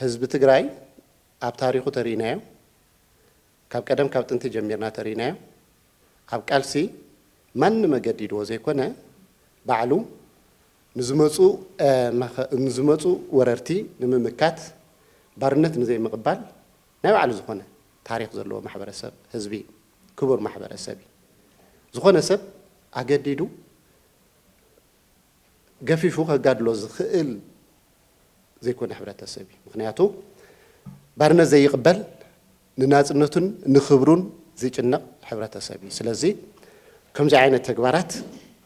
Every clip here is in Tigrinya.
ህዝቢ ትግራይ ኣብ ታሪኹ ተሪኢናዮ፣ ካብ ቀደም ካብ ጥንቲ ጀሚርና ተሪኢናዮ፣ ኣብ ቃልሲ ማንም ኣገዲድዎ ዘይኮነ ባዕሉ ንዝመፁ ንዝመፁ ወረርቲ ንምምካት ባርነት ንዘይምቕባል ናይ ባዕሉ ዝኾነ ታሪኽ ዘለዎ ማሕበረሰብ ህዝቢ እዩ። ክቡር ማሕበረሰብ እዩ። ዝኾነ ሰብ ኣገዲዱ ገፊፉ ከጋድሎ ዝኽእል ዘይኮነ ሕብረተሰብ እዩ። ምኽንያቱ ባርነት ዘይቕበል ንናጽነቱን ንኽብሩን ዝጭነቕ ሕብረተሰብ እዩ። ስለዚ ከምዚ ዓይነት ተግባራት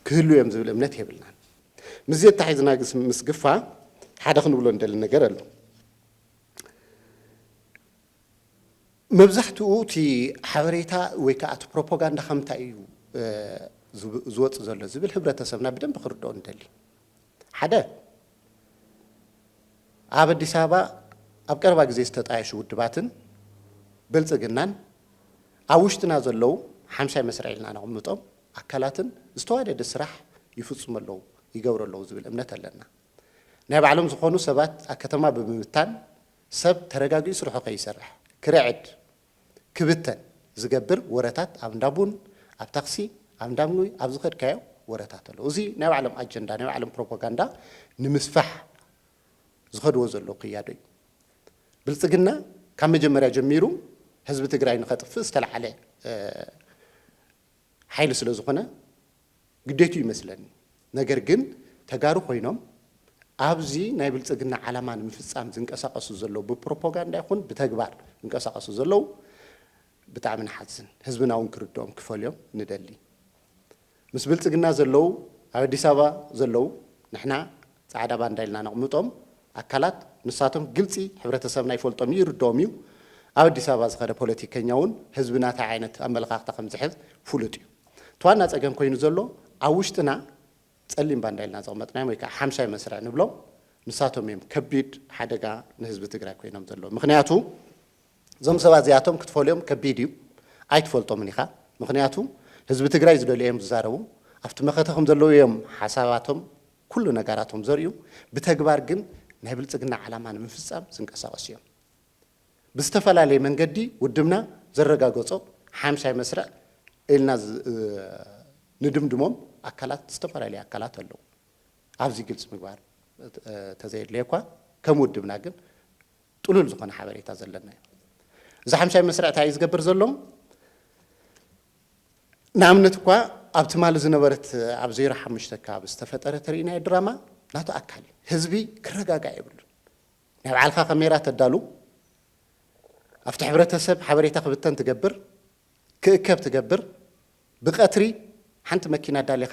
ክህልው እዮም ዝብል እምነት የብልናን። ምስዚ ኣተሓሒዝና ምስ ግፋ ሓደ ክንብሎ ንደሊ ነገር ኣሎ። መብዛሕትኡ እቲ ሓበሬታ ወይ ከኣ እቲ ፕሮፖጋንዳ ካብ ምንታይ እዩ ዝወጽእ ዘሎ ዝብል ሕብረተሰብና ብደንቢ ክርድኦ ንደሊ። ሓደ ኣብ ኣዲስ ኣበባ ኣብ ቀረባ ግዜ ዝተጣየሹ ውድባትን ብልጽግናን ኣብ ውሽጥና ዘለዉ ሓምሻይ መስርዕ ኢልና ነቕምጦም ኣካላትን ዝተዋደደ ስራሕ ይፍጽሙ ኣለዉ ይገብሩ ኣለዉ ዝብል እምነት ኣለና። ናይ ባዕሎም ዝኾኑ ሰባት ኣብ ከተማ ብምብታን ሰብ ተረጋጊኡ ስርሑ ከይሰርሕ፣ ክርዕድ፣ ክብተን ዝገብር ወረታት ኣብ እንዳ ቡን፣ ኣብ ታክሲ፣ ኣብ እንዳ ምግቢ፣ ኣብ ዝኸድካዮ ወረታት ኣሎ። እዚ ናይ ባዕሎም ኣጀንዳ፣ ናይ ባዕሎም ፕሮፖጋንዳ ንምስፋሕ ዝኸድዎ ዘለዉ ክያዶ እዩ። ብልጽግና ካብ መጀመርያ ጀሚሩ ህዝቢ ትግራይ ንኸጥፍእ ዝተልዓለ ሓይሊ ስለ ዝኾነ ግዴትኡ ይመስለኒ ነገር ግን ተጋሩ ኮይኖም ኣብዚ ናይ ብልፅግና ዓላማ ንምፍፃም ዝንቀሳቀሱ ዘለዉ ብፕሮፖጋንዳ ይኹን ብተግባር ዝንቀሳቀሱ ዘለዉ ብጣዕሚ ንሓዝን ህዝብና እውን ክርድኦም ክፈልዮም ንደሊ ምስ ብልፅግና ዘለዉ ኣብ ኣዲስ ኣበባ ዘለዉ ንሕና ፃዕዳ ባንዳ ኢልና ነቕምጦም ኣካላት ንሳቶም ግልፂ ሕብረተሰብና ይፈልጦም እዩ ይርደኦም እዩ ኣብ ኣዲስ ኣበባ ዝኸደ ፖለቲከኛ እውን ህዝብና ታይ ዓይነት ኣመለኻኽታ ከምዝሕዝ ፍሉጥ እዩ እቲ ዋና ፀገም ኮይኑ ዘሎ ኣብ ውሽጥና ፀሊም ባንዳ ኢልና ዘቕመጥናዮም ወይ ከዓ ሓምሻይ መስርዕ ንብሎም ንሳቶም እዮም ከቢድ ሓደጋ ንህዝቢ ትግራይ ኮይኖም ዘለዉ ምኽንያቱ እዞም ሰባት እዚኣቶም ክትፈልዮም ከቢድ እዩ ኣይትፈልጦምን ኢኻ ምኽንያቱ ህዝቢ ትግራይ ዝደልዮ እዮም ዝዛረቡ ኣብቲ መኸተ ከምዘለዉ እዮም ሓሳባቶም ኩሉ ነጋራቶም ዘርእዩ ብተግባር ግን ናይ ብልፅግና ዓላማ ንምፍፃም ዝንቀሳቐሱ እዮም። ብዝተፈላለየ መንገዲ ውድብና ዘረጋገፆ ሓምሻይ መስርዕ ኢልና ንድምድሞም ኣካላት ዝተፈላለዩ ኣካላት ኣለዉ። ኣብዚ ግልፂ ምግባር ተዘየድለየ እኳ ከም ውድብና ግን ጥሉል ዝኾነ ሓበሬታ ዘለና እዩ። እዚ ሓምሻይ መስርዕ እንታይ እዩ ዝገብር ዘሎ? ንኣብነት እኳ ኣብ ትማሊ ዝነበረት ኣብ ዜሮ ሓሙሽተ ኣከባቢ ዝተፈጠረ ተርእናዮ ድራማ ናቱ ኣካል እዩ። ህዝቢ ክረጋጋእ የብሉን። ናይ ባዕልካ ከሜራ ተዳሉ፣ ኣብቲ ሕብረተሰብ ሓበሬታ ክብተን ትገብር፣ ክእከብ ትገብር፣ ብቀትሪ ሓንቲ መኪና ኣዳሊኻ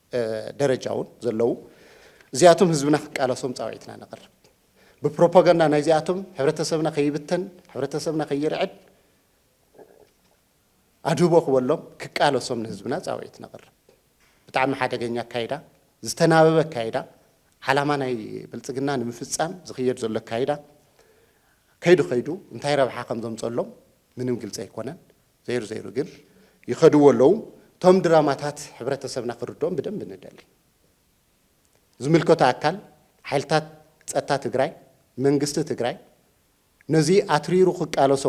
ደረጃ እውን ዘለዉ እዚኣቶም ህዝብና ክቃለሶም ጻውዒትና ነቕርብ። ብፕሮፓጋንዳ ናይዚኣቶም ሕብረተሰብና ከይብተን፣ ሕብረተሰብና ከይርዕድ ኣድህቦ ክበሎም ክቃለሶም ንህዝብና ጻውዒት ነቕርብ። ብጣዕሚ ሓደገኛ ኣካይዳ፣ ዝተናበበ ኣካይዳ፣ ዓላማ ናይ ብልጽግና ንምፍጻም ዝኽየድ ዘሎ ኣካይዳ ከይዱ ከይዱ እንታይ ረብሓ ከም ዘምጸሎም ምንም ግልጺ ኣይኮነን። ዘይሩ ዘይሩ ግን ይኸድዎ ኣለዉ እቶም ድራማታት ሕብረተሰብና ክርድኦም ብደንቢ ንደሊ። ዝምልከቶ ኣካል ሓይልታት ፀጥታ ትግራይ መንግስቲ ትግራይ ነዚ ኣትሪሩ ክቃለሶ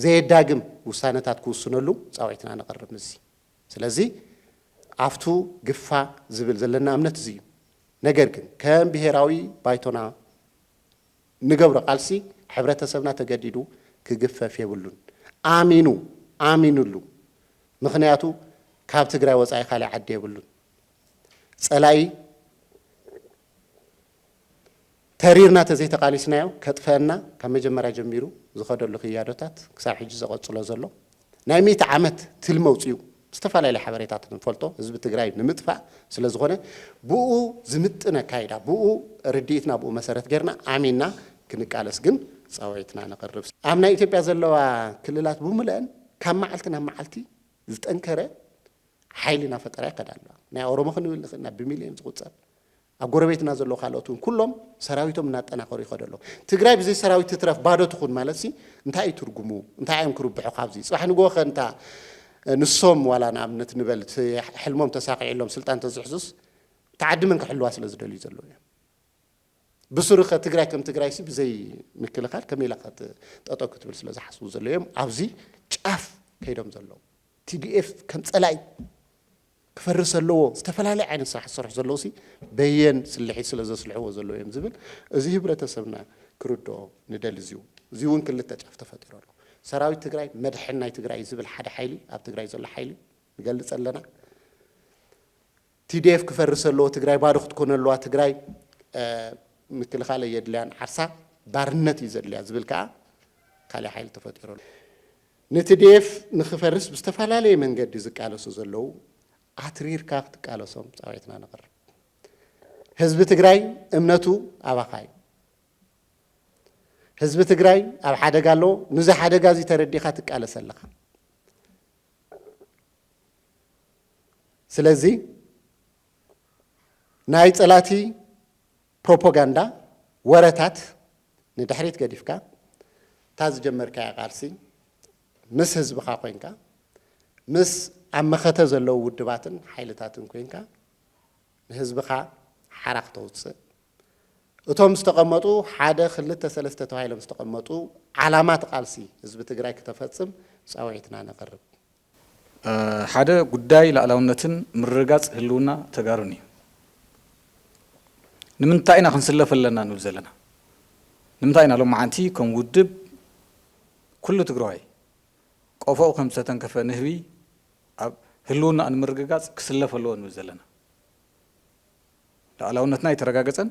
ዘየዳግም ውሳነታት ክውስነሉ ፃውዒትና ነቕርብ ምስዚ ስለዚ ኣፍቱ ግፋ ዝብል ዘለና እምነት እዚ እዩ ነገር ግን ከም ብሄራዊ ባይቶና ንገብሮ ቃልሲ ሕብረተሰብና ተገዲዱ ክግፈፍ የብሉን ኣሚኑ ኣሚኑሉ ምኽንያቱ ካብ ትግራይ ወፃኢ ካሊእ ዓዲ የብሉን ፀላኢ ተሪርና ተዘይተቃሊስናዮ ከጥፈኣና ካብ መጀመርያ ጀሚሩ ዝኸደሉ ክያዶታት ክሳብ ሕጂ ዘቐፅሎ ዘሎ ናይ ሚእቲ ዓመት ትልሚ ኣውፂኡ ዝተፈላለየ ሓበሬታት ንፈልጦ ህዝቢ ትግራይ ንምጥፋእ ስለዝኾነ ብኡ ዝምጥን ኣካይዳ ብኡ ርድኢትና ብኡ መሰረት ገይርና ኣሚንና ክንቃለስ ግን ፃውዒትና ነቕርብ። ኣብ ናይ ኢትዮጵያ ዘለዋ ክልላት ብሙለኣን ካብ መዓልቲ ናብ መዓልቲ ዝጠንከረ ሓይሊ እናፈጠራ ይኸዳ ኣለዋ። ናይ ኦሮሞ ክንብል ንኽእል ኢና ብሚልዮን ዝቑፀር ኣብ ጎረቤትና ዘለዉ ካልኦት እውን ኩሎም ሰራዊቶም እናጠናኸሩ ይኸዱ ኣለዉ። ትግራይ ብዘይ ሰራዊት ትትረፍ ባዶ ትኹን ማለትሲ እንታይ እዩ ትርጉሙ? እንታይ እዮም ክርብሑ ካብዚ? ፅባሕ ንግሆ ከ እንታ ንሶም ዋላ ንኣብነት ንበል እቲ ሕልሞም ተሳኺዕሎም ስልጣን እንተዝሕዙስ እታ ዓዲ መን ክሕልዋ ስለ ዝደልዩ ዘለዉ እዮም? ብስሩ ከ ትግራይ ከም ትግራይሲ ብዘይ ምክልኻል ከመይ ኢላ ከ ጠጠው ክትብል ስለ ዝሓስቡ ዘለዉ እዮም ኣብዚ ጫፍ ከይዶም ዘለዉ። tdf ከም ፀላኢ ክፈርስ ኣለዎ ዝተፈላለየ ዓይነት ስራሕ ዝሰርሑ ዘለዉሲ በየን ስልሒት ስለ ዘስልሕዎ ዘለዉ እዮም ዝብል እዚ ህብረተሰብና ክርድኦ ንደሊ እዚው እዚውን ክልተ ጫፍ ተፈጢሩ ኣሎ ሰራዊት ትግራይ መድሕን ናይ ትግራይ እዩ ዝብል ሓደ ሓይሊ ኣብ ትግራይ ዘሎ ሓይሊ ንገልፅ ኣለና ቲዲኤፍ ክፈርስ ኣለዎ ትግራይ ባዶ ክትኮነ ኣለዋ ትግራይ ምክልኻል የድልያን ዓርሳ ባርነት እዩ ዘድልያ ዝብል ከዓ ካልእ ሓይሊ ተፈጢሩ ኣሎ ንትዴኤፍ ንክፈርስ ብዝተፈላለየ መንገዲ ዝቃለሱ ዘለዉ ኣትሪርካ ክትቃለሶም ፃውዒትና ነቕርብ። ህዝቢ ትግራይ እምነቱ ኣባኻ እዩ። ህዝቢ ትግራይ ኣብ ሓደጋ ኣሎ። ንዚ ሓደጋ እዚ ተረዲኻ ትቃለስ ኣለኻ። ስለዚ ናይ ፀላእቲ ፕሮፖጋንዳ ወረታት ንድሕሪት ገዲፍካ እታ ዝጀመርካያ ቃልሲ ምስ ህዝብኻ ኮይንካ ምስ ኣብ መኸተ ዘለዉ ውድባትን ሓይልታትን ኮይንካ ንህዝብኻ ሓራ ክተውፅእ እቶም ዝተቐመጡ ሓደ ክልተ ሰለስተ ተባሂሎም ዝተቐመጡ ዓላማት ቃልሲ ህዝቢ ትግራይ ክተፈፅም ፃውዒትና ነቕርብ። ሓደ ጉዳይ ላእላውነትን ምርግጋፅ ህልውና ተጋሩን እዩ። ንምንታይ ኢና ክንስለፍ ኣለና ንብል ዘለና? ንምንታይ ኢና ሎማዓንቲ ከም ውድብ ኩሉ ትግራዋይ ቆፎኡ ከም ዝተተንከፈ ንህቢ ኣብ ህልውናኡ ንምርግጋፅ ክስለፍ ኣለዎ ንብል ዘለና? ላእላውነትና ኣይተረጋገፀን፣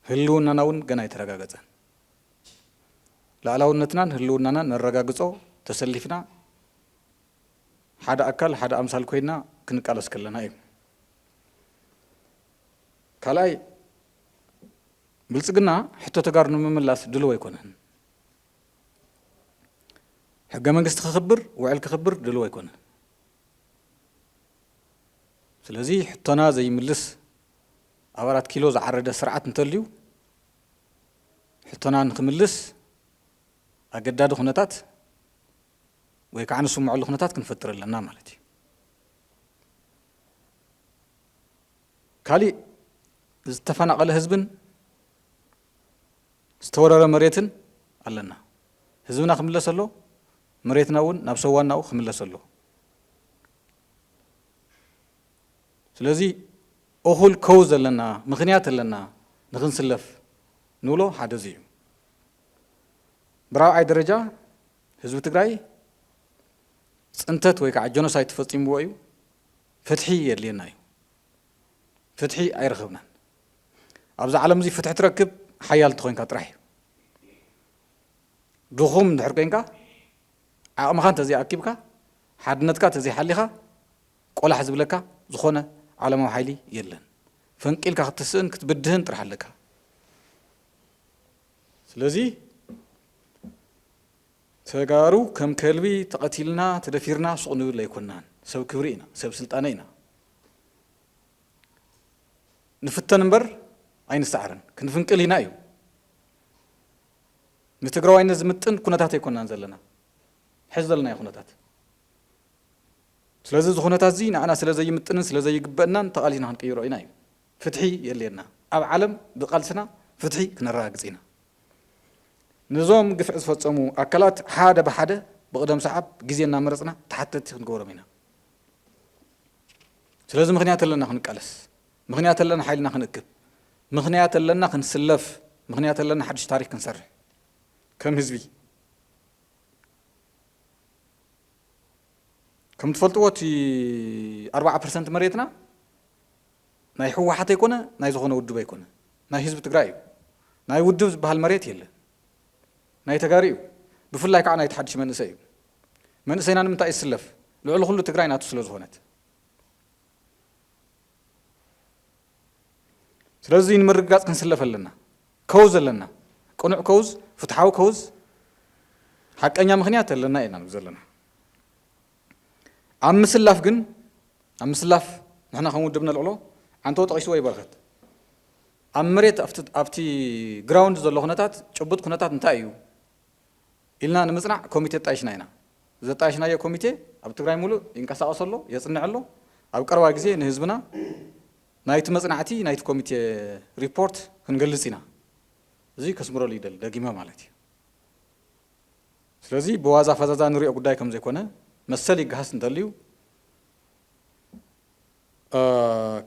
ህልውናና እውን ገና ኣይተረጋገፀን። ላእላውነትናን ህልውናናን ነረጋግፆ ተሰሊፍና ሓደ ኣካል ሓደ ኣምሳል ኮይና ክንቃለስ ከለና እዩ። ካልኣይ ብልፅግና ሕቶ ተጋሩ ንምምላስ ድልው ኣይኮነን። ሕገ መንግስቲ ክኽብር ውዕል ክኽብር ድልው ኣይኮነን። ስለዚ ሕቶና ዘይምልስ ኣብ ኣራት ኪሎ ዝዓረደ ስርዓት እንተልዩ ሕቶና ንክምልስ ኣገዳዲ ኩነታት ወይ ከዓ ንስምዐሉ ኩነታት ክንፈጥር ኣለና ማለት እዩ። ካሊእ ዝተፈናቐለ ህዝብን ዝተወረረ መሬትን ኣለና። ህዝብና ክምለስ ኣሎ፣ መሬትና እውን ናብ ሰዋናኡ ክምለስ ኣሎ። ስለዚ እኹል ከው ዘለና ምኽንያት ኣለና ንክንስለፍ ንብሎ ሓደ እዚ እዩ። ብራብዓይ ደረጃ ህዝቢ ትግራይ ፅንተት ወይ ከዓ ጀኖሳይድ ተፈፂምዎ እዩ። ፍትሒ የድልየና እዩ። ፍትሒ ኣይረኸብናን። ኣብዚ ዓለም እዚ ፍትሒ ትረክብ ሓያል እንተኾይንካ ጥራሕ እዩ። ድኹም እንድሕር ኮይንካ ዓቕምኻ እንተዘይኣኪብካ ሓድነትካ እንተዘይሓሊኻ ቆላሕ ዝብለካ ዝኾነ ዓለማዊ ሓይሊ የለን ፈንቂልካ ክትስእን ክትብድህን ጥራሕ ኣለካ ስለዚ ተጋሩ ከም ከልቢ ተቐቲልና ተደፊርና ሱቕ ንብል ኣይኮናን ሰብ ክብሪ ኢና ሰብ ስልጣነ ኢና ንፍተን እምበር ኣይንሰዓርን ክንፍንቅል ኢና እዩ ንትግራዋይነት ዝምጥን ኩነታት ኣይኮናን ዘለና ሕዚ ዘለና ኩነታት ስለዚ እዚ ኩነታትዚ ንዓና ስለ ዘይምጥንን ስለ ዘይግበእናን ተቓሊስና ክንቅይሮ ኢና እዩ። ፍትሒ የድልየና። ኣብ ዓለም ብቓልስና ፍትሒ ክነረጋግጽ ኢና። ንዞም ግፍዒ ዝፈጸሙ ኣካላት ሓደ ብሓደ ብቕደም ሰዓብ ግዜ እናመረጽና ተሓተትቲ ክንገብሮም ኢና። ስለዚ ምክንያት ኣለና ክንቃለስ። ምክንያት ኣለና ሓይልና ክንእክብ። ምክንያት ኣለና ክንስለፍ። ምክንያት ኣለና ሓድሽ ታሪኽ ክንሰርሕ ከም ህዝቢ። ከም ትፈልጥዎ እቲ ኣርባዓ ፐርሰንት መሬትና ናይ ህወሓት ኣይኮነ ናይ ዝኾነ ውድብ ኣይኮነ ናይ ህዝቢ ትግራይ እዩ ናይ ውድብ ዝበሃል መሬት የለ ናይ ተጋሪ እዩ ብፍላይ ከዓ ናይ ተሓድሽ መንእሰይ እዩ መንእሰይና ንምንታይ ይስለፍ ልዕሊ ኩሉ ትግራይ ናቱ ስለ ዝኾነት ስለዚ ንምርግጋጽ ክንስለፍ ኣለና። ከውዝ ኣለና። ቅኑዕ ከውዝ፣ ፍትሓዊ ከውዝ፣ ሓቀኛ ምኽንያት ኣለና ኢና ንብ ዘለና። ኣብ ምስላፍ ግን ኣብ ምስላፍ ንሕና ከም ውድብ ነልዕሎ ዓንተው ጠቒስዎ እዩ በረኸት። ኣብ መሬት ኣብቲ ግራውንድ ዘሎ ኩነታት ጭቡጥ ኩነታት እንታይ እዩ? ኢልና ንምፅናዕ ኮሚቴ ኣጣይሽና ኢና። ዘጣየሽናዮ ኮሚቴ ኣብ ትግራይ ሙሉእ ይንቀሳቐስ ኣሎ፣ የፅንዕ ኣሎ። ኣብ ቀረባ ግዜ ንህዝብና ናይቲ መፅናዕቲ ናይቲ ኮሚቴ ሪፖርት ክንገልፅ ኢና። እዙይ ከስምረሉ ይደሊ ደጊመ ማለት እዩ። ስለዚ ብዋዛ ፈዛዛ ንሪኦ ጉዳይ ከምዘይኮነ መሰል ይገሃስ እንተልዩ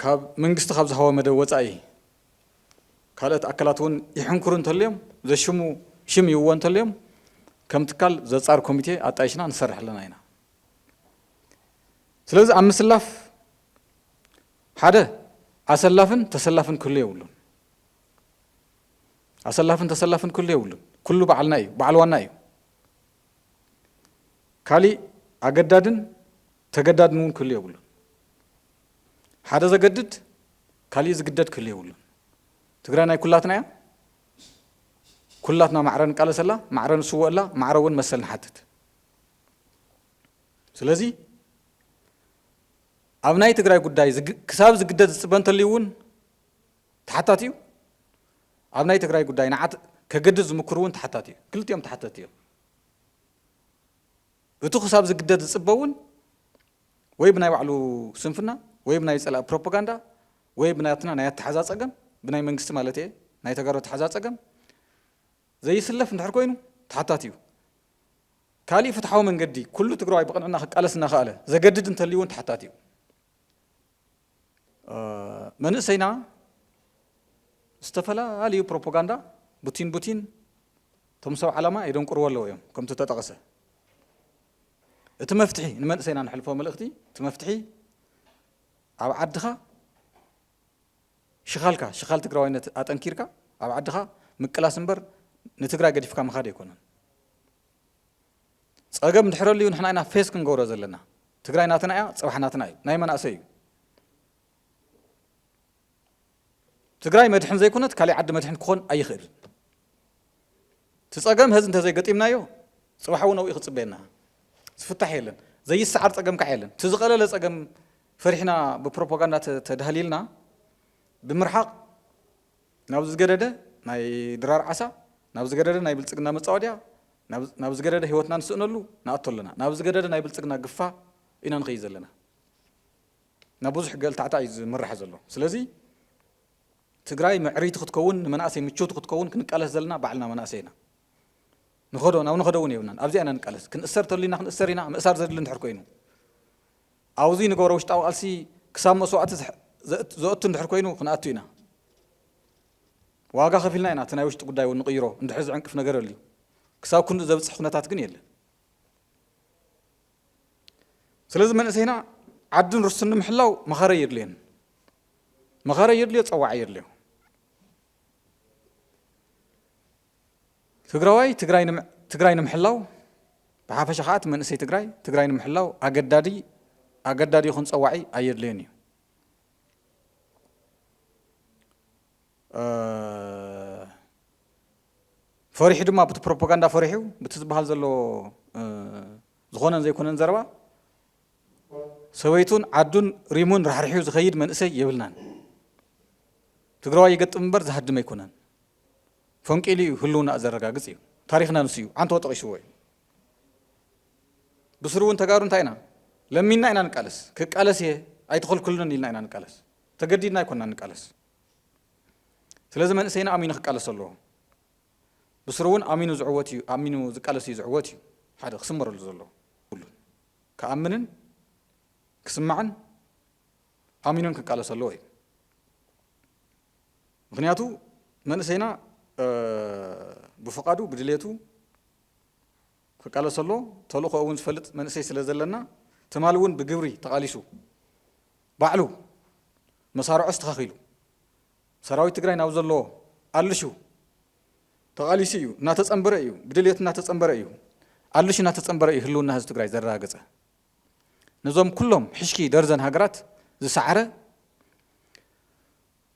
ካብ መንግስቲ ካብ ዝሃቦ መደብ ወፃኢ ካልኦት ኣካላት እውን ይሕንክሩ እንተልዮም ዘሽሙ ሽም ይህብዎ እንተልዮም ከም ትካል ዘፃሪ ኮሚቴ ኣጣይሽና ንሰርሕ ኣለና ኢና። ስለዚ ኣብ ምስላፍ ሓደ ኣሰላፍን ተሰላፍን ክህሉ የብሉን። ኣሰላፍን ተሰላፍን ክህሉ የብሉን። ኩሉ በዓልና እዩ፣ በዓል ዋና እዩ። ካሊእ ኣገዳድን ተገዳድን እውን ክህሉ የብሉን። ሓደ ዘገድድ ካሊእ ዝግደድ ክህሉ የብሉን። ትግራይ ናይ ኩላትና እያ። ኩላትና ማዕረ ንቃለሰላ፣ ማዕረ ንስወኣላ፣ ማዕረ እውን መሰል ንሓትት። ስለዚ ኣብ ናይ ትግራይ ጉዳይ ክሳብ ዝግደድ ዝፅበ እንተልዩ እውን ተሓታቲ እዩ። ኣብ ናይ ትግራይ ጉዳይ ንዓት ከገድድ ዝምክር እውን ተሓታቲ እዩ። ክልቲኦም ተሓተቲ እዮም። እቲ ክሳብ ዝግደድ ዝፅበ እውን ወይ ብናይ ባዕሉ ስንፍና ወይ ብናይ ጸላኢ ፕሮፖጋንዳ ወይ ብናትና ናይ ኣተሓዛ ጸገም ብናይ መንግስቲ ማለት እየ ናይ ተጋሩ ኣተሓዛ ጸገም ዘይስለፍ እንድሕር ኮይኑ ተሓታቲ እዩ። ካሊእ ፍትሓዊ መንገዲ ኩሉ ትግራዋይ ብቕንዕና ክቃለስ እናኸኣለ ዘገድድ እንተልዩ እውን ተሓታቲ እዩ። መንእሰይና ዝተፈላለዩ ፕሮፖጋንዳ ቡቲን ቡቲን እቶም ሰብ ዓላማ የደንቁርዎ ኣለዉ እዮም ከምቲ ተጠቐሰ እቲ መፍትሒ ንመንእሰይና ነሕልፎ መልእኽቲ እቲ መፍትሒ ኣብ ዓድኻ ሽኻልካ ሽኻል ትግራዋይነት ኣጠንኪርካ ኣብ ዓድኻ ምቅላስ እምበር ንትግራይ ገዲፍካ ምኻድ ኣይኮነን። ጸገም ድሕረልዩ ንሕና ኢና ፌስ ክንገብሮ ዘለና። ትግራይ ናትና እያ፣ ጽባሕ ናትና እዩ። ናይ መናእሰይ እዩ። ትግራይ መድሕን ዘይኮነት ካሊእ ዓዲ መድሕን ክኾን ኣይኽእልን። እቲ ፀገም ሀዚ እንተዘይገጢምናዮ ፅባሕ እውን ኣብኡ ክፅበየና ዝፍታሕ የለን። ዘይሰዓር ፀገም ከዓ የለን። እቲ ዝቐለለ ፀገም ፈሪሕና ብፕሮፓጋንዳ ተዳህሊልና ብምርሓቕ ናብ ዝገደደ ናይ ድራር ዓሳ ናብ ዝገደደ ናይ ብልፅግና መፃወድያ ናብ ዝገደደ ህይወትና ንስእነሉ ንኣቶ ኣለና። ናብ ዝገደደ ናይ ብልፅግና ግፋ ኢና ንኸይድ ዘለና። ናብ ብዙሕ ገልታዕታዕ እዩ ዝምራሕ ዘሎ ስለዚ ትግራይ ምዕሪቲ ክትከውን ንመናእሰይ ምችውቲ ክትከውን ክንቃለስ ዘለና ባዕልና መናእሰይ ኢና ንኸዶ ናብ ንኸዶ እውን የብልናን ኣብዚኣ ኢና ንቃለስ ክንእሰር ተልዩና ክንእሰር ኢና ምእሳር ዘድሊ እንድሕር ኮይኑ ኣብዚ ንገብሮ ውሽጣዊ ቃልሲ ክሳብ መስዋእቲ ዘእቱ እንድሕር ኮይኑ ክንኣቱ ኢና ዋጋ ከፊልና ኢና እቲ ናይ ውሽጢ ጉዳይ እውን ንቕይሮ እንድሕር ዝዕንቅፍ ነገር ኣልዩ ክሳብ ክንዲ ዘብፅሕ ኩነታት ግን የለን ስለዚ መንእሰይና ዓድን ርስቱን ንምሕላው መኸረ የድልየን መኸረ የድልዮ ፀዋዒ የድልዮ ትግራዋይ ትግራይ ንምሕላው ብሓፈሻ ከዓ እቲ መንእሰይ ትግራይ ትግራይ ንምሕላው ኣገዳዲ ኣገዳዲ ይኹን ፀዋዒ ኣየድልዮን እዩ ፈሪሑ ድማ ብቲ ፕሮፖጋንዳ ፈሪሑ ብቲ ዝባሃል ዘሎ ዝኾነን ዘይኮነን ዘረባ ሰበይቱን ዓዱን ሪሙን ራሕሪሑ ዝኸይድ መንእሰይ የብልናን። ትግራዋይ ይገጥም እምበር ዝሃድም ኣይኮነን። ፈንቂሉ እዩ ህልውና ዘረጋግጽ እዩ። ታሪኽና ንሱ እዩ። ዓንተቦ ጠቒስዎ እዩ። ብስሩ እውን ተጋሩ እንታይ ኢና ለሚንና ኢና ንቃለስ። ክቃለስ እየ ኣይትኸልክሉንን ኢልና ኢና ንቃለስ። ተገዲድና ኣይኮንና ንቃለስ። ስለዚ መንእሰይና ኣሚኑ ክቃለሶ ኣለዎ። ብስሩ እውን ኣሚኑ ዝዕወት እዩ ኣሚኑ ዝቃለስ እዩ ዝዕወት እዩ ሓደ ክስመረሉ ዘለዎ ኩሉን ክኣምንን ክስማዕን ኣሚኑን ክቃለሶ ኣለዎ እዩ። ምክንያቱ መንእሰይና ብፍቃዱ ብድሌቱ ክቃለሰሉ ተልእኾኡ እውን ዝፈልጥ መንእሰይ ስለ ዘለና ትማሊ እውን ብግብሪ ተቓሊሱ ባዕሉ መሳርዑ ኣስተኻኺሉ ሰራዊት ትግራይ ናብ ዘለዎ ኣልሹ ተቓሊሱ እዩ እናተፀንበረ እዩ ብድልየቱ እናተፀንበረ እዩ ኣልሹ እናተፀንበረ እዩ ህልውና ህዝቢ ትግራይ ዘረጋገፀ ነዞም ኩሎም ሕሽኪ ደርዘን ሃገራት ዝሰዓረ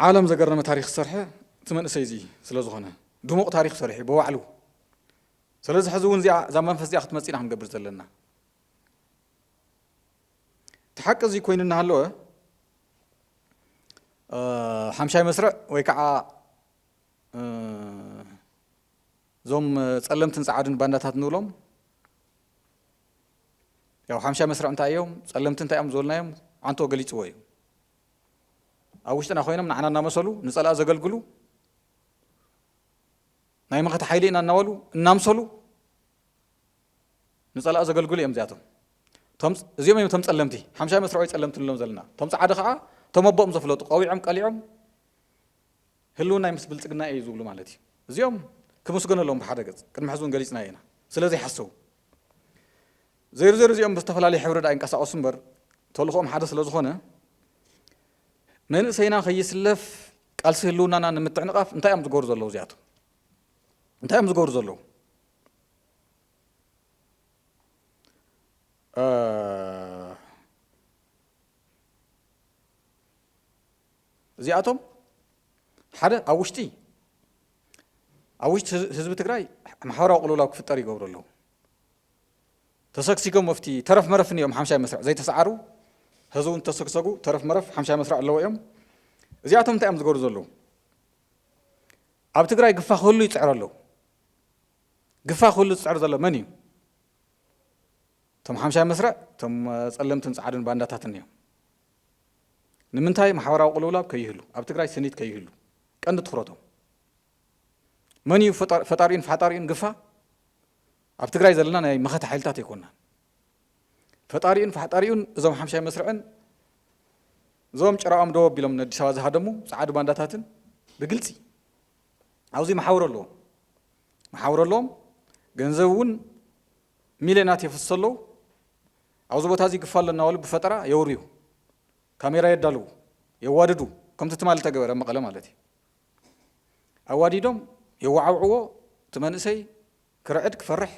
ዓለም ዘገረመ ታሪክ ዝሰርሐ እቲ መንእሰይ እዚ ስለ ዝኾነ ድሙቕ ታሪክ ሰሪሑ ብባዕሉ ስለዚ ሕዚ እውን እዚኣ እዛ መንፈስ እዚኣ ክትመፅእ ኢና ክንገብር ዘለና እቲ ሓቂ እዚ ኮይኑ እናሃለወ ሓምሻይ መስርዕ ወይ ከዓ እዞም ጸለምትን ጸዓድን ባንዳታት ንብሎም ያው ሓምሻ መስርዕ እንታይ እዮም ጸለምቲ እንታይ እዮም ዝበልናዮም ዓንቶ ገሊፅዎ እዩ ኣብ ውሽጥና ኮይኖም ንዓና እናመሰሉ ንፀላእ ዘገልግሉ ናይ መኸተ ሓይሊ ኢና እናበሉ እናምሰሉ ንፀላኢ ዘገልግሉ እዮም እዚኣቶም። እዚኦም እዮም እቶም ጸለምቲ ሓምሻይ መስርዖይ ጸለምቲ ንሎም ዘለና እቶም ጻዓዱ ከዓ እቶም ኣቦኦም ዘፍለጡ ቀዊዖም ቀሊዖም ህልውናይ ምስ ብልጽግና እዩ ዝብሉ ማለት እዩ እዚኦም ክምስገነሎም ብሓደ ገጽ ቅድሚ ሕዚ እውን ገሊጽና ኢና ስለ ዘይሓሰቡ ዘይርዘር እዚኦም ብዝተፈላለየ ሕብሪ ዳኣ ይንቀሳቀሱ እምበር ተልእኽኦም ሓደ ስለ ዝኾነ መንእሰይና ከይስለፍ ቃልሲ ህልውናና ንምትዕንቓፍ እንታይ እዮም ዝገብሩ ዘለዉ እዚኣቶም እንታይ እዮም ዝገብሩ ዘለዉ እዚኣቶም ሓደ ኣብ ውሽጢ ኣብ ውሽጢ ህዝቢ ትግራይ ማሕበራዊ ቅልውላው ክፍጠር ይገብሩ ኣለዉ ተሰግሲጎም ኣብቲ ተረፍ መረፍን እዮም ሓምሻይ መስርዕ ዘይተሰዓሩ ሀዚ እውን ተሰግሰጉ ተረፍ መረፍ ሓምሻይ መስርዕ ኣለዎ እዮም እዚኣቶም እንታይ እዮም ዝገሩ ዘለዉ ኣብ ትግራይ ግፋ ክህሉ ይፅዕሩ ኣለዉ ግፋ ክህሉ ዝፅዕር ዘሎ መን እዩ እቶም ሓምሻይ መስርዕ እቶም ፀለምትን ፃዕድን ባንዳታትን እዮም ንምንታይ ማሕበራዊ ቅልውላብ ከይህሉ ኣብ ትግራይ ስኒት ከይህሉ ቀንዲ ትኩረቶም መን እዩ ፈጣሪኡን ፈሓጣሪኡን ግፋ ኣብ ትግራይ ዘለና ናይ መኸተ ሓይልታት ኣይኮናን። ፈጣሪኡን ፋሕጣሪኡን እዞም ሓምሻይ መስርዕን እዞም ጭራኦም ደው ኣቢሎም ንኣዲስ ኣበባ ዝሃደሙ ጸዓዱ ባንዳታትን ብግልጺ ኣብዚ መሓውር ኣለዎም መሓውር ኣለዎም ገንዘብ እውን ሚልዮናት የፍስሱ ኣለዉ ኣብዚ ቦታ እዚ ግፋ ኣሎ እናበሉ ብፈጠራ የውርዩ ካሜራ የዳልዉ የዋድዱ ከምቲ ትማሊ ተገበረ መቐለ ማለት እዩ ኣዋዲዶም የዋዓውዕዎ እቲ መንእሰይ ክርዕድ ክፈርሕ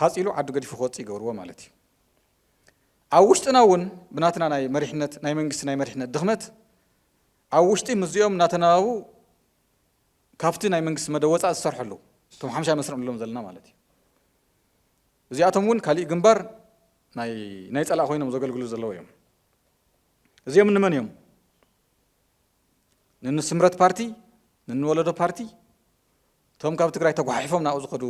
ሃጽ ኢሉ ዓዱ ገዲፉ ክወጽእ ይገብርዎ ማለት እዩ። ኣብ ውሽጥና እውን ብናትና ናይ መሪሕነት ናይ መንግስቲ ናይ መሪሕነት ድኽመት ኣብ ውሽጢ ምስዚኦም እናተናባቡ ካብቲ ናይ መንግስቲ መደብ ወጻእ ዝሰርሑ ኣለዉ። እቶም ሓምሻይ መስርዕ ንብሎም ዘለና ማለት እዩ። እዚኣቶም እውን ካሊእ ግንባር ናይ ናይ ጸላእ ኮይኖም ዘገልግሉ ዘለዉ እዮም። እዚኦም እንመን እዮም? ንንስምረት ፓርቲ ንንወለዶ ፓርቲ እቶም ካብ ትግራይ ተጓሓሒፎም ናብኡ ዝኸዱ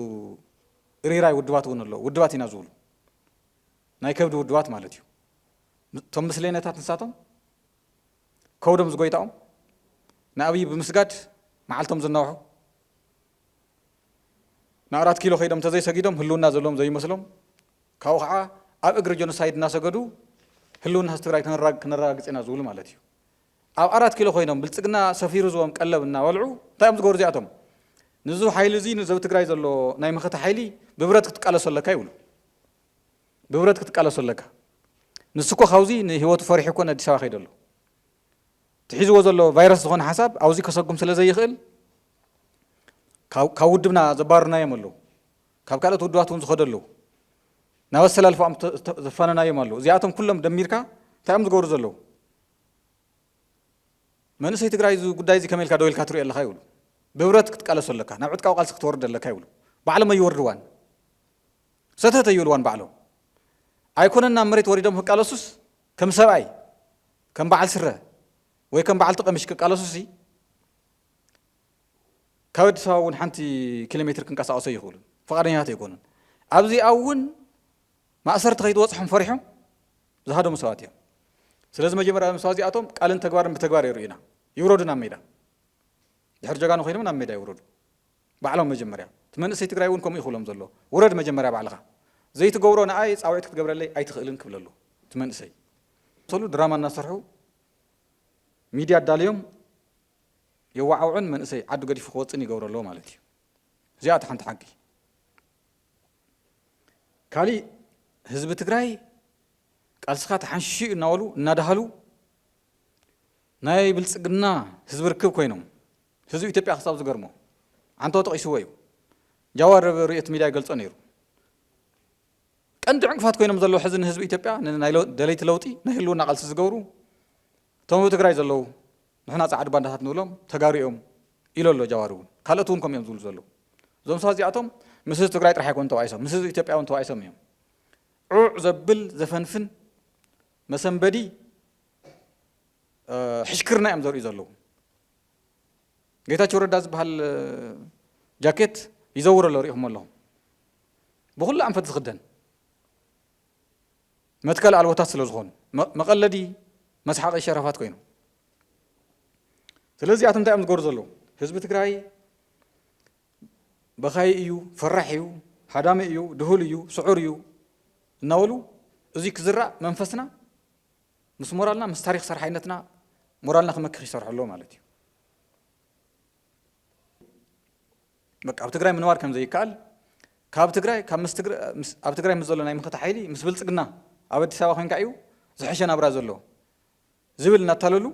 እርይራይ ውድባት እውን ኣለዉ ውድባት ኢና ዝብሉ ናይ ከብዲ ውድባት ማለት እዩ እቶም ምስሌነታት ንሳቶም ከውዶም ዝጎይታኦም ንኣብይ ብምስጋድ መዓልቶም ዝናውሑ ንኣራት ኪሎ ከይዶም ተዘይሰጊዶም ህልውና ዘለዎም ዘይመስሎም ካብኡ ከዓ ኣብ እግሪ ጀኖሳይድ እናሰገዱ ህልውና ህዝቢ ትግራይ ክነራግፅ ኢና ዝብሉ ማለት እዩ ኣብ ኣራት ኪሎ ኮይኖም ብልጽግና ሰፊሩ ዝቦም ቀለብ እናበልዑ እንታይ እዮም ዝገብሩ እዚኣቶም ንዚ ሓይሊ እዚ ንዘብ ትግራይ ዘሎ ናይ መኸተ ሓይሊ ብብረት ክትቃለሶ ኣለካ ይብሉ ብብረት ክትቃለሶ ኣለካ ንሱ እኮ ካብዚ ንህይወቱ ፈሪሑ እኮ ንኣዲስ ኣበባ ከይደሎ ትሒዝዎ ዘሎ ቫይረስ ዝኾነ ሓሳብ ኣብዚ ከሰጉም ስለ ዘይኽእል ካብ ውድብና ዘባርናዮም ኣለዉ ካብ ካልኦት ውድባት እውን ዝኸደ ኣለዉ ናብ ኣሰላልፋኦም ዘፋነናዮም ኣለዉ እዚኣቶም ኩሎም ደሚርካ እንታይ እዮም ዝገብሩ ዘለዉ መንእሰይ ትግራይ እዚ ጉዳይ እዚ ከመይ ኢልካ ደው ኢልካ ትሪኦ ኣለኻ ይብሉ። ብህብረት ክትቃለሶ ኣለካ፣ ናብ ዕጥቃዊ ቃልሲ ክትወርድ ኣለካ ይብሉ። ባዕሎም ኣይወርድዋን፣ ሰተት ኣይብልዋን ባዕሎም። ኣይኮነን ናብ መሬት ወሪዶም ክቃለሱስ ከም ሰብኣይ ከም በዓል ስረ ወይ ከም በዓልቲ ቀሚሽ ክቃለሱሲ ካብ ኣዲስ ኣበባ እውን ሓንቲ ኪሎ ሜትር ክንቀሳቀሱ ኣይኽእሉን፣ ፈቃደኛታት ኣይኮኑን። ኣብዚኣ እውን ማእሰርቲ ከይትበፅሖም ፈሪሖም ዝሃደሙ ሰባት እዮም። ስለዚ መጀመርያ እዞም ሰባት እዚኣቶም ቃልን ተግባርን ብተግባር የርእዩና። ይውረዱ ናብ ሜዳ። ድሕሪ ጀጋኑ ኮይኖም ናብ ሜዳ ይውረዱ። ባዕሎም መጀመርያ። እቲ መንእሰይ ትግራይ እውን ከምኡ እዩ ክብሎም ዘሎ። ውረድ መጀመርያ ባዕልኻ። ዘይትገብሮ ንኣይ ፃውዒት ክትገብረለይ ኣይትኽእልን ክብል ኣለዎ እቲ መንእሰይ። ሰሉ ድራማ እናሰርሑ ሚድያ ኣዳልዮም የዋዓውዑን መንእሰይ ዓዱ ገዲፉ ክወፅእን ይገብሩ ኣለዉ ማለት እዩ። እዚኣ እታ ሓንቲ ሓቂ። ካሊእ ህዝቢ ትግራይ ቃልስኻ ተሓንሺሹ እዩ እናበሉ እናደሃሉ ናይ ብልፅግና ህዝቢ ርክብ ኮይኖም ህዝቢ ኢትዮጵያ ክሳብ ዝገርሞ ዓንተው ጠቒስዎ እዩ ጃዋር ኣብ ርእዮት ሚድያ ይገልጾ ነይሩ ቀንዲ ዕንቅፋት ኮይኖም ዘለዉ ሕዚ ንህዝቢ ኢትዮጵያ ናይ ደለይቲ ለውጢ ናይ ህልውና ቃልሲ ዝገብሩ እቶም ኣብ ትግራይ ዘለዉ ንሕና ጸዓዱ ባንዳታት ንብሎም ተጋሩ እዮም ኢሎ ኣሎ ጃዋር እውን ካልኦት እውን ከምኡ እዮም ዝብሉ ዘለዉ እዞም ሰባት እዚኣቶም ምስ ህዝቢ ትግራይ ጥራሕ ኣይኮኑ ተባኢሶም ምስ ህዝቢ ኢትዮጵያ እውን ተባኢሶም እዮም ዑዕ ዘብል ዘፈንፍን መሰንበዲ ሕሽክርና እዮም ዘርእዩ ዘለዉ ጌታቸው ረዳ ዝበሃል ጃኬት ይዘውር ኣሎ ሪኢኹም ኣለኹም ብኩሉ ኣንፈት ዝኽደን መትከል ኣልቦታት ስለ ዝኾኑ መቐለዲ መስሓቒ ሸራፋት ኮይኖም ስለዚ እዚኣቶም እንታይ እዮም ዝገብሩ ዘለዉ ህዝቢ ትግራይ በኻይ እዩ ፈራሕ እዩ ሃዳሚ እዩ ድሁል እዩ ስዑር እዩ እናበሉ እዙይ ክዝራእ መንፈስና ምስ ሞራልና ምስ ታሪክ ሰርሓይነትና ሞራልና ክመክኽ ይሰርሑ ኣለዎ ማለት እዩ በቃ ኣብ ትግራይ ምንባር ከም ዘይከኣል ካብ ትግራይ ካብ ምስ ኣብ ትግራይ ምስ ዘሎ ናይ መኸተ ሓይሊ ምስ ብልጽግና ኣብ ኣዲስ ኣበባ ኮንካ እዩ ዝሐሸ ናብራ ዘሎ ዝብል እናታለሉ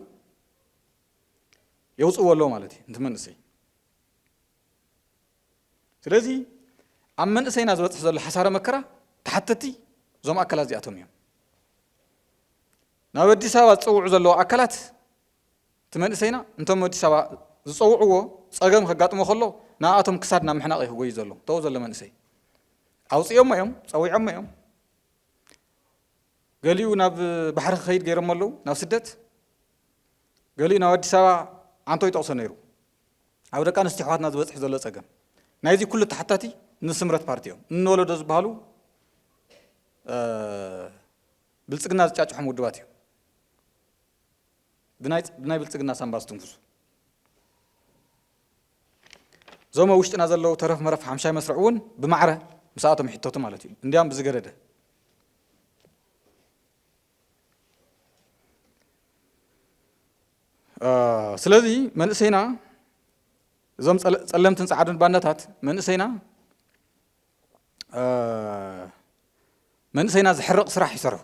የውፅዎ ኣለዎ ማለት እዩ ንቲ መንእሰይ ስለዚ ኣብ መንእሰይና ዝበፅሕ ዘሎ ሓሳረ መከራ ተሓተቲ እዞም ኣካላት እዚኣቶም እዮም ናብ ኣዲስ ኣበባ ዝፀውዑ ዘለዉ ኣካላት እቲ መንእሰይና እንቶም ኣዲስ ኣበባ ዝጸውዕዎ ጸገም ከጋጥሞ ከሎ ንኣኣቶም ክሳድ ናብ ምሕናቕ እዩ ክጎዩ ዘሎ ተው ዘሎ መንእሰይ ኣውጽኦሞ እዮም ጸዊዖሞ እዮም ገሊኡ ናብ ባሕሪ ክኸይድ ገይሮሞ ኣለዉ ናብ ስደት ገሊኡ ናብ ኣዲስ ኣበባ ዓንቶ ይጠቕሶ ነይሩ ኣብ ደቂ ኣንስትዮ ኣሕዋትና ዝበፅሕ ዘሎ ፀገም ናይዚ ኩሉ ተሓታቲ ንስምረት ፓርቲ እዮም እንወለዶ ዝበሃሉ ብልፅግና ዝጫጭሖም ውድባት እዮም ብናይ ብልፅግና ሳንባ ዝትንፍሱ እዞም ኣብ ውሽጥና ዘለዉ ተረፍ መረፍ ሓምሻይ መስርዕ እውን ብማዕረ ምስኣቶም ይሕተቱ ማለት እዩ እንዲያም ብዝገደደ ስለዚ መንእሰይና እዞም ጸለምትን ጸዓዱን ባንዳታት መንእሰይና መንእሰይና ዝሕርቕ ስራሕ ይሰርሑ፣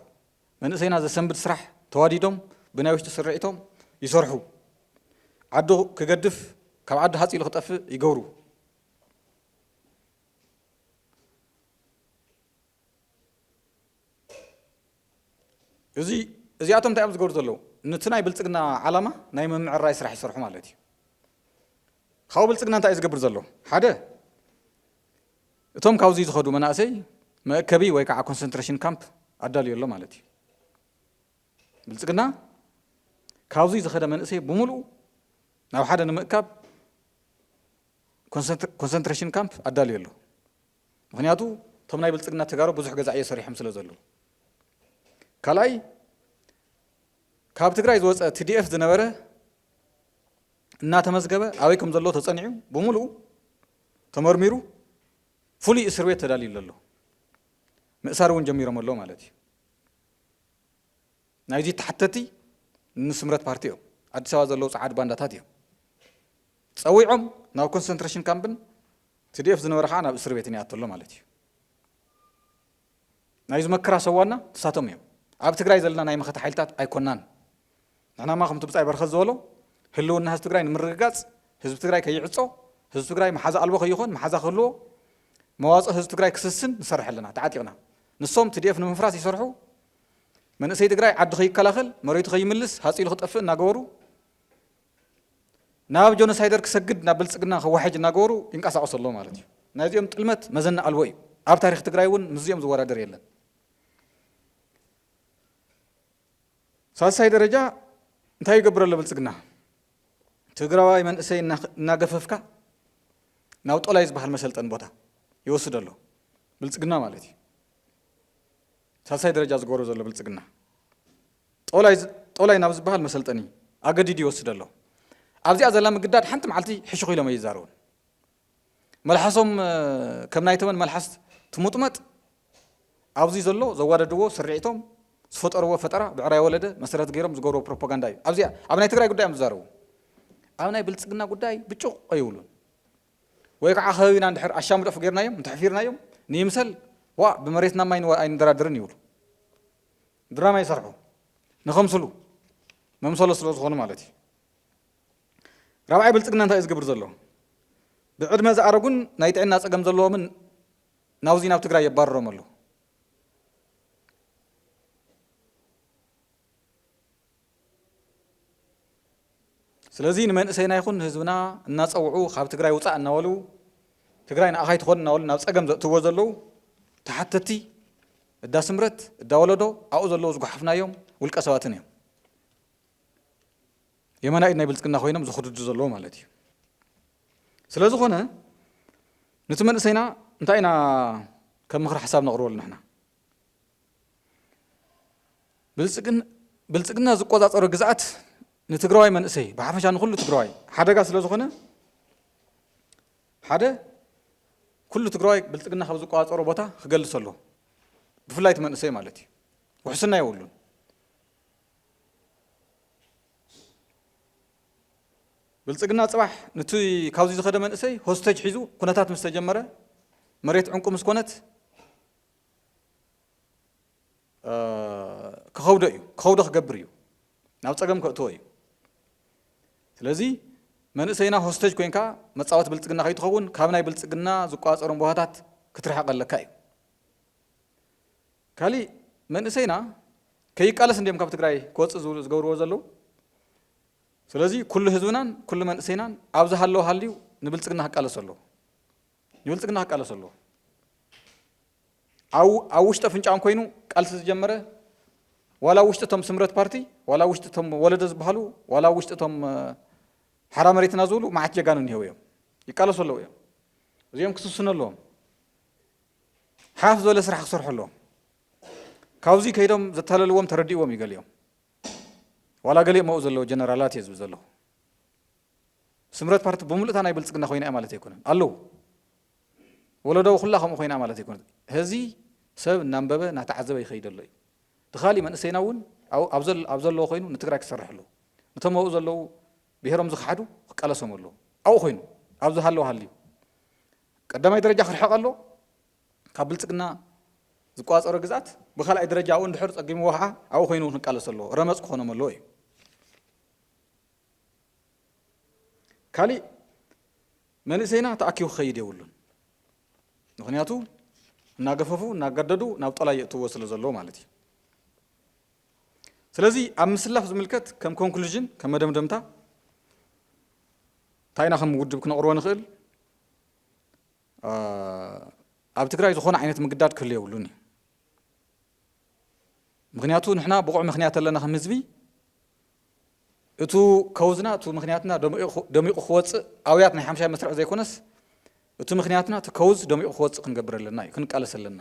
መንእሰይና ዘሰንብድ ስራሕ ተዋዲዶም ብናይ ውሽጢ ስርዒቶም ይሰርሑ፣ ዓዱ ክገድፍ ካብ ዓዱ ሃጽ ኢሉ ክጠፍእ ይገብሩ። እዚ እዚኣቶም እንታይ እዮም ዝገብሩ ዘለዉ? ነቲ ናይ ብልጽግና ዓላማ ናይ ምምዕራይ ስራሕ ይሰርሑ ማለት እዩ። ካብኡ ብልጽግና እንታይ እዩ ዝገብር ዘሎ? ሓደ እቶም ካብዙይ ዝኸዱ መናእሰይ መእከቢ ወይ ከዓ ኮንሰንትሬሽን ካምፕ ኣዳልዩ ኣሎ ማለት እዩ። ብልፅግና ካብዙይ ዝኸደ መንእሰይ ብምሉኡ ናብ ሓደ ንምእካብ ኮንሰንትሬሽን ካምፕ ኣዳልዩ ኣሎ። ምክንያቱ እቶም ናይ ብልፅግና ተጋሩ ብዙሕ ገዛዕዮ ሰሪሖም ስለ ዘለዉ። ካልኣይ ካብ ትግራይ ዝወፀ ቲዲኤፍ ዝነበረ እናተመዝገበ ኣበይ ከም ዘለዎ ተፀኒዑ ብምሉኡ ተመርሚሩ ፍሉይ እስር ቤት ተዳልዩሉ ኣሎ። ምእሳር እውን ጀሚሮም ኣለዉ ማለት እዩ። ናይዚ ተሓተቲ ንስምረት ፓርቲ እዮም። ኣዲስ ኣበባ ዘለዉ ጸዓድ ባንዳታት እዮም። ጸዊዖም ናብ ኮንሰንትሬሽን ካምፕን ትዲኤፍ ዝነበረ ከዓ ናብ እስር ቤትን ይኣቶ ኣሎ ማለት እዩ። ናይዚ መከራ ሰዋና ንሳቶም እዮም። ኣብ ትግራይ ዘለና ናይ መኸተ ሓይልታት ኣይኮናን። ንሕናማ ከምቲ ብጻይ በረኸት ዝበሎ ህልውና ህዝቢ ትግራይ ንምርግጋጽ ህዝቢ ትግራይ ከይዕጾ ህዝቢ ትግራይ መሓዛ ኣልቦ ከይኾን መሓዛ ክህልዎ መዋጽኦ ህዝቢ ትግራይ ክስስን ንሰርሕ ኣለና ተዓጢቕና ንሶም ትዲኤፍ ንምፍራስ ይሰርሑ መንእሰይ ትግራይ ዓዲ ከይከላኸል መሬቱ ከይምልስ ሃፂሉ ክጠፍእ እናገበሩ ናብ ጆኖሳይደር ክሰግድ ናብ ብልፅግና ከዋሕጅ እናገበሩ ይንቀሳቀሱ ኣለዉ ማለት እዩ ናይ እዚኦም ጥልመት መዘና ኣልቦ እዩ ኣብ ታሪክ ትግራይ እውን ምስዚኦም ዝወዳደር የለን ሳልሳይ ደረጃ እንታይ ይገብር ኣሎ ብልፅግና? ትግራዋይ መንእሰይ እናገፈፍካ ናብ ጦላይ ዝበሃል መሰልጠን ቦታ ይወስድ ኣሎ ብልፅግና ማለት እዩ። ሳልሳይ ደረጃ ዝገበሮ ዘሎ ብልፅግና ጦላይ ናብ ዝበሃል መሰልጠኒ ኣገዲዱ ይወስድ ኣሎ። ኣብዚኣ ዘላ ምግዳድ ሓንቲ መዓልቲ ሕሹኽ ኢሎም ኣይዛረቡን። መልሓሶም ከም ናይ ተመን መልሓስ ትሙጥመጥ ኣብዙይ ዘሎ ዘዋደድዎ ስርዒቶም ዝፈጠርዎ ፈጠራ ብዕራይ ወለደ መሰረት ገይሮም ዝገብርዎ ፕሮፓጋንዳ እዩ ኣብዚኣ ኣብ ናይ ትግራይ ጉዳይ እዮም ዝዛረቡ ኣብ ናይ ብልፅግና ጉዳይ ብጩቕ ኣይብሉን ወይ ከዓ ከባቢና እንድሕር ኣሻምደፍ ገይርናዮም እንተሕፊርናዮም ንይምሰል ዋ ብመሬትና ማይ ኣይንደራደርን ይብሉ ድራማ ይሰርሑ ንኸምስሉ መምሰሎ ስለ ዝኾኑ ማለት እዩ ራብዓይ ብልፅግና እንታይ እዩ ዝገብር ዘሎ? ብዕድመ ዝኣረጉን ናይ ጥዕና ፀገም ዘለዎምን ናውዚ ናብ ትግራይ የባርሮም ኣሎ። ስለዚ ንመንእሰይና ይኹን ንህዝብና እናፀውዑ ካብ ትግራይ ውፃእ እናበሉ ትግራይ ንኣኻ ኣይትኾን እናበሉ ናብ ፀገም ዘእትዎ ዘለዉ ተሓተቲ እዳ ስምረት እዳ ወለዶ ኣብኡ ዘለዉ ዝጓሓፍናዮም ውልቀ ሰባትን እዮም። የማናይ ኢድ ናይ ብልጽግና ኮይኖም ዝኹድዱ ዘለዉ ማለት እዩ። ስለ ዝኾነ ንቲ መንእሰይና እንታይ ኢና ከም ምኽሪ ሓሳብ ነቕርበሉ ንሕና ብልጽግና ዝቆጻጸሮ ግዝኣት ንትግራዋይ መንእሰይ ብሓፈሻ ንኩሉ ትግራዋይ ሓደጋ ስለ ዝኾነ ሓደ ኩሉ ትግራዋይ ብልጽግና ካብ ዝቆጻጸሮ ቦታ ክገልስ ኣሎ ብፍላይ እቲ መንእሰይ ማለት እዩ ውሕስና የብሉን ብልፅግና ፅባሕ ንቲ ካብዚ ዝኸደ መንእሰይ ሆስተጅ ሒዙ ኩነታት ምስ ተጀመረ መሬት ዕንቁ ምስ ኮነት ክኸብዶ እዩ ክኸብዶ ክገብር እዩ ናብ ፀገም ከእትዎ እዩ ስለዚ መንእሰይና ሆስተጅ ኮንካ መፃወት ብልፅግና ከይትኸውን ካብ ናይ ብልፅግና ዝቋፀሮም ቦታታት ክትርሕቕ ኣለካ እዩ ካሊእ መንእሰይና ከይቃለስ እንድዮም ካብ ትግራይ ክወፅእ ዝብሉ ዝገብርዎ ዘለዉ ስለዚ ኩሉ ህዝብናን ኩሉ መንእሰይናን ኣብ ዝሃለወ ሃልዩ ንብልፅግና ክቃለስ ኣለዎ ንብልፅግና ክቃለስ ኣለዎ ኣብ ኣብ ውሽጢ ኣፍንጫኦም ኮይኑ ቃልሲ ዝጀመረ ዋላ ኣብ ውሽጢ እቶም ስምረት ፓርቲ ዋላ ኣብ ውሽጢ እቶም ወለደ ዝበሃሉ ዋላ ኣብ ውሽጢ እቶም ሓራ መሬትና ዝብሉ መዓት ጀጋኑ እኒሄው እዮም ይቃለሱ ኣለዉ እዮም እዚኦም ክስስኑ ኣለዎም ሓፍ ዝበለ ስራሕ ክሰርሑ ኣለዎም ካብዚ ከይዶም ዘታለልዎም ተረዲእዎም እዩ ገሊኦም ዋላ ገሊኦም መኡ ዘለዎ ጀነራላት እየ ዝብል ዘለኹ ስምረት ፓርቲ ብምሉእታ ናይ ብልፅግና ኮይና እያ ማለት ኣይኮነን ኣለዉ ወለዶ ኩላ ከምኡ ኮይና ማለት ኣይኮነት ህዚ ሰብ እናንበበ እናተዓዘበ ይኸይድ ኣሎ እዩ እቲ ካሊእ መንእሰይና እውን ኣብ ዘለዎ ኮይኑ ንትግራይ ክሰርሕ ኣለዎ ነቶም ኣብኡ ዘለዉ ብሄሮም ዝኸሓዱ ክቃለሶም ኣለዎ ኣብኡ ኮይኑ ኣብ ዝሃለዎ ሃልዩ ቀዳማይ ደረጃ ክርሕቕ ኣለዎ ካብ ብልጽግና ዝቆጻጸሮ ግዝኣት፣ ብካልኣይ ደረጃ ኣብኡ እንድሕር ጸጊምዎ ከኣ ኣብኡ ኮይኑ እውን ክቃለስ ኣለዎ፣ ረመጽ ክኾኖም ኣለዎ እዩ። ካሊእ መንእሰይና ተኣኪቡ ክኸይድ የብሉን፣ ምኽንያቱ እናገፈፉ እናገደዱ ናብ ጦላይ የእትውዎ ስለ ዘለዉ ማለት እዩ። ስለዚ ኣብ ምስላፍ ዝምልከት ከም ኮንክሉዥን ከም መደምደምታ እንታይ ኢና ከም ውድብ ክነቕርቦ ንኽእል፣ ኣብ ትግራይ ዝኾነ ዓይነት ምግዳድ ክህሉ የብሉን እዩ ምክንያቱ ንሕና ብቑዕ ምክንያት ኣለና ከም ህዝቢ እቱ ከውዝና እቱ ምክንያትና ደሚቑ ክወፅእ ኣውያት ናይ ሓምሻይ መስርዕ ዘይኮነስ እቱ ምክንያትና እቲ ከውዝ ደሚቑ ክወፅእ ክንገብር ኣለና እዩ ክንቃለስ ኣለና